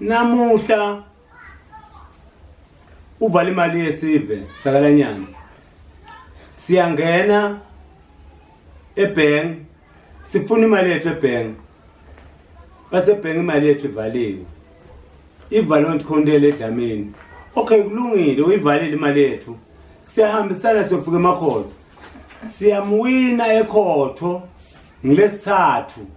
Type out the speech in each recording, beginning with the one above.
namuhla uvala imali yesive sakalanyanza siyangena ebhenki sifuna imali yethu ebhenki basebhenki imali yethu ivaliwe ivalwe ngikhontele edlamini okay kulungile uyivalile imali yethu siyahambisana siyofika emakhotho siyamuwina ekhotho ngilesithathu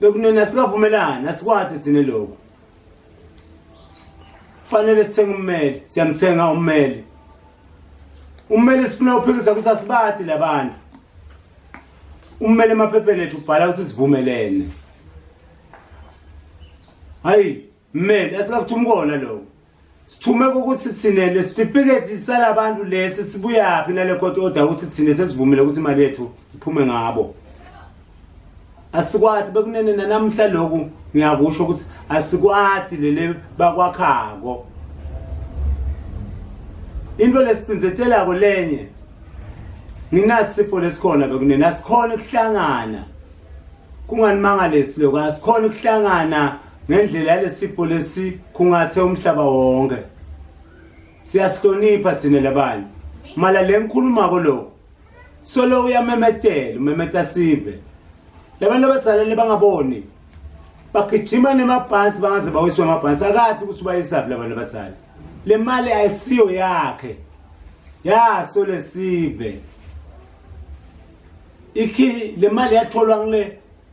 bekunina sikavumelani asikwathi sine lokho fanele sithenga ummeli siyamthenga ummeli ummeli sifuna uphikisa kusasibathi labantu ummeli emaphepheni ethu ubhala ukuthi sivumelene hayi mmeli asikakuthi umkona lokho sithume ukuthi thina lesitifiketi salabantu lesi sibuyaphi nale court order ukuthi thina sesivumile ukuthi imali yethu iphume ngabo asikwati bekunene nanamhla lokhu ngiyakusho ukuthi asikwati lele bakwakhako into lesicinzetelako lenye nginasipho lesikhona bekunene asikhona ukuhlangana kunganimangalesi lokho asikhona ukuhlangana ngendlela yalesipho lesikhungathe umhlaba wonke siyasihlonipha sine labanye mala le ngikhulumako lokho solo uyamemetela umemeta sive labantu abazalele bangaboni bagijima nemabhansi bangaze bawiswe amabhansi akathi ukuthi ubayisaphi labantu abazali le mali ayisiyo yakhe yaso lesive ikhi le mali yatholwa ngile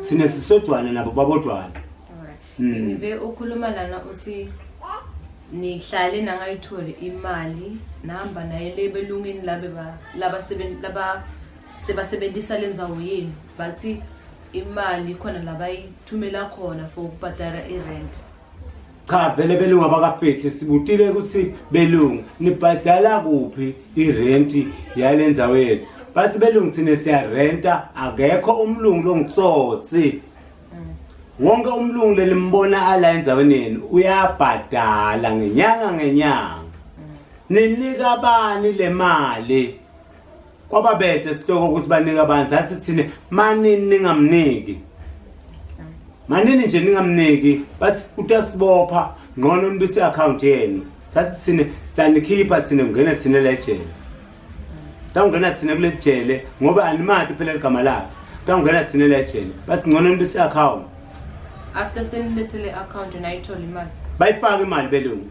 sine sisodwana nabo babodwana hmm. ngive ukhuluma lana uthi nihlale nangayitholi imali nahamba naye le belungini labe laba sebasebenzisa le ndzawo yenu bathi imali khona labayithumela khona for ukubhadala i-rent cha vele belungu abakafihli sibutile ukuthi belungu nibhadala kuphi irenti yale ndzawo yethu bathi belungu sine siyarenta akekho umlungu longitsotsi wonke umlungu lelimbona ala endzaweni yenu uyabhadala ngenyanga ngenyanga ninika bani le mali kwababethe sihloko ukuthi banika abantu sathi thina manini ningamniki manini nje ningamniki bathi utasibopha ngcono nibise account yenu sathi thina sitanikhipha thina kungena thina lejele tawungena thina kule jele ngoba animati phela ligama lakhe tawungena thina lejele bathi ngcono nibise account after senilethele account nayithola imali bayifaka imali belungu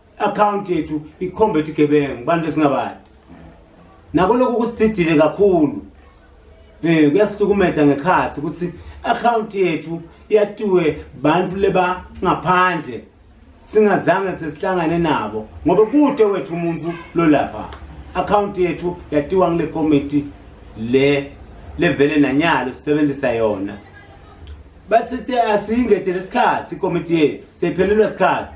account yethu ikhomba ethi gebengu bantu esingabadi nako lokhu kusididile kakhulu eh kuyasihlukumeza ngekhathi ukuthi account yethu yatiwe bantu leba ngaphandle singazange sesihlangane nabo ngoba kude wethu umuntu lolapha account yethu yatiwa ngile committee le levele nanyalo sisebenzisa yona bathi asiyingedele isikhathi ikomiti yethu seyiphelelwa isikhathi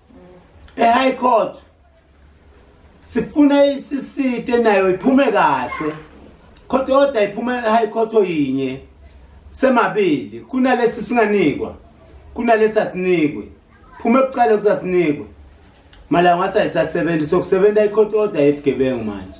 eHigh Court sifuna iCC nayo iphume kahle court order iphume eHigh Court oyinye semabili kunalesi singanikwa kunalesi asinikwe phuma ekuqala kusasinikwe malanga wasayisasebenzi sokusebenza icourt order yebugebengu manje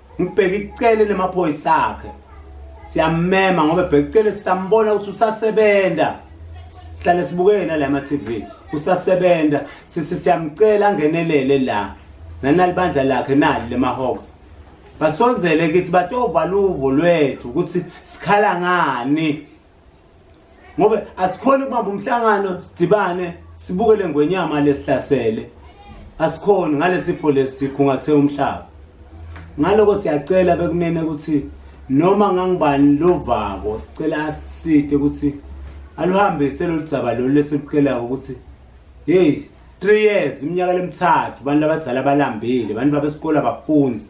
ngibheke icele lemaphoyisa akhe siyamema ngoba ebheke icele sisambona ukuthi usasebenza sihlale sibukeke nala ma-tv usasebenza siyamcela angenelele la nanalibandla lakhe nali lema-hawks basonzele kithi batovala uvo lwethu ukuthi sikhala ngani ngoba asikhona ukubamba umhlangano sidibane sibuke le ngwenyama lesihlasele asikhoni ngalesipho lesikhungathe umhlaba ngaloko siyacela bekunene ukuthi noma ngangibani lovako sicela asiside ukuthi aluhambise lolu dzaba lolu lesilukelayo ukuthi yeyi three years iminyaka lemithathu abantu abadala balambile abantu babesikole abafunzi